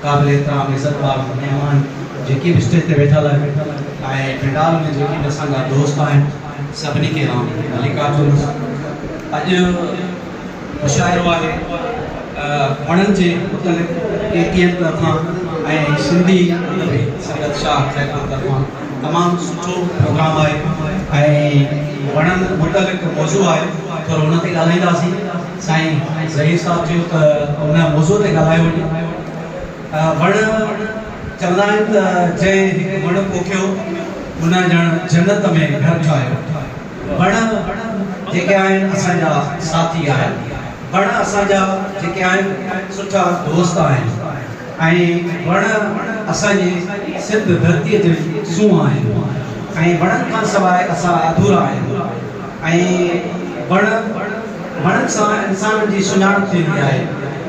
قابل احترام عزت ماڳ مهمان جيڪي به اسٽيج تي ويٺل آهن ۽ پنڊال ۾ جيڪي به اسان جا دوست آهن سڀني کي آئون ملڪات ٿوندس اڄ مشاعرو آهي وڻن جي متعلق اي ٽي ايم طرفان ۽ سنڌي ادبي سنگت شاهه خيرپور طرفان تمام سٺو پروگرام آهي ۽ وڻن متعلق موضوع آهي ٿورو ان تي ڳالهائينداسين سائين ظهير صاحب چيو ته ان موضوع تي ڳالهايو وڃي ته وڻ چوندا آهن ته جنهن هڪ وڻ پوکيو ان ڄڻ جنت ۾ گهر ٺاهيو. وڻ جيڪي آهن اسان جا ساٿي آهن. وڻ اسان جا جيڪي آهن سٺا دوست آهن ۽ وڻ اسان جي سنڌ ڌرتي جي سونهن آهن ۽ وڻن کان سواء اسان اڌورا آهيون. ۽ بڻ وڻن سان انسانن جي سڃاڻپ ٿيندي آهي.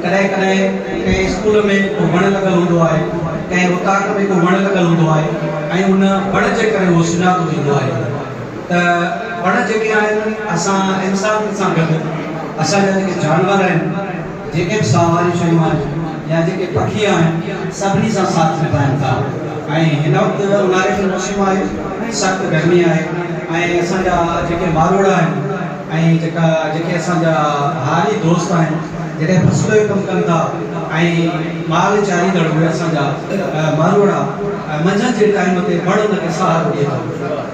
ڪڏهن ڪڏهن ڪنهن اسڪول ۾ ڪو وڻ لڳل هوندو آهي، ڪنهن اوطاق ۾ ڪو وڻ لڳل هوندو آهي ۽ ان وڻ جي ڪري اهو سڃاتو ويندو آهي ته وڻ جيڪي آهن اسان انسانن سان گڏ اسان جا جيڪي جانور آهن، جيڪي به ساهه واريون شيون آهن يا جيڪي پکي آهن سڀني سان ساٿ نڀائن ٿا ۽ هن وقت اونهاري جو موسم آهي ۽ سخت گرمي آهي ۽ اسان جا جيڪي ماروئڙا آهن ۽ جيڪا جيڪي اسان جا هاري دوست آهن جڏهن فصل جو ڪم ڪن ٿا ۽ مال چاريندڙ اهي اسان جا ماروئڙا منجهند جي ٽائيم تي وڻ ان کي سهارو ڏي ٿو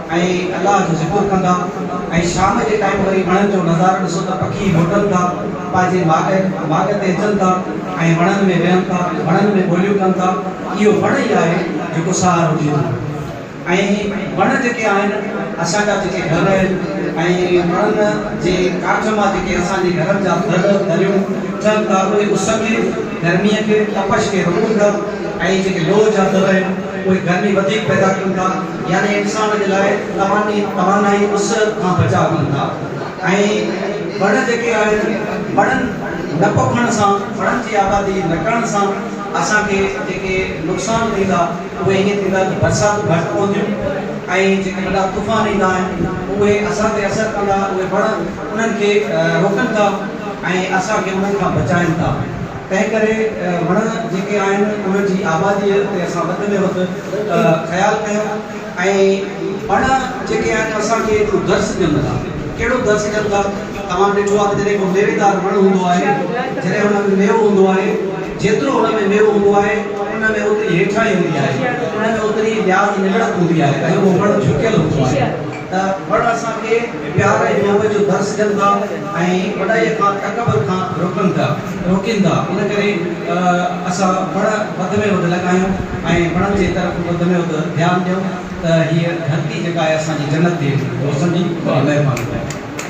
۽ الله جو ذڪر ڪندا ۽ شام جي ٽائيم وري وڻن جو نظارو ڏسو ته پکي موٽن ٿا پنهنجي ماڳ ماڳ تي اچن ٿا ۽ وڻن ۾ ويهن ٿا وڻن ۾ ٻوليون ڪن ٿا اهو وڻ ئي آهي جيڪو سهارو ڏئي ٿو ۽ وڻ جيڪي آهن اسان جا جيڪي گهر آهن ۽ وڻن جي ڪاٺ مان جيڪي اسان جي گهرن جا در دريون ٿين ٿا اهي اس کي گرمي کي تپش کي روڪن ٿا ۽ جيڪي لوهه جا در آهن اهي گرمي وڌيڪ پيدا ڪن ٿا يعني انسان جي لاء تواني توانائي اس کان بچاء ڪن ٿا ۽ وڻ جيڪي آهن وڻن نه پوکڻ سان وڻن جي آبادي نه ڪرڻ سان اسان کي جيڪي نقصان ٿيندا اهي ائين ٿيندا ته برساتون گهٽ پونديون ۽ جيڪي وڏا طوفان ايندا آهن اهي اسان تي اثر ڪندا اهي وڻ انهن کي روڪن ٿا ۽ اسان کي انهن کان بچائين ٿا. تنهن ڪري وڻ جيڪي آهن انهن جي آباديء تي اسان وڌ ۾ وڌ خيال ڪيون ۽ وڻ جيڪي آهن اسان کي هڪڙو درس ڏين ٿا ڪهڙو درس ڏين ٿا توهان ڏٺو آهي ته جڏهن ڪو ميويدار وڻ هوندو آهي جڏهن ان ۾ ميوو هوندو آهي جيترو ان ۾ ميوو هوندو آهي ان ۾ اوتري هيٺائي هوندي آهي ان ۾ اوتري لياز نگڙت هوندي آهي ۽ اهو وڻ جهڪيل هوندو آهي ته وڻ اسان کي پيار ۽ محبت جو درس ڏين ٿا ۽ وڏائيء کان تڪبر کان روڪن ٿا روڪين ٿا ان ڪري اسان وڻ وڌ ۾ وڌ لڳايون ۽ وڻن جي طرف وڌ ۾ وڌ ڌيان ڏيون ته هيء ڌرتي جيڪا آهي اسان جي جنت ٿئي روشن جي مهرباني ڪريو.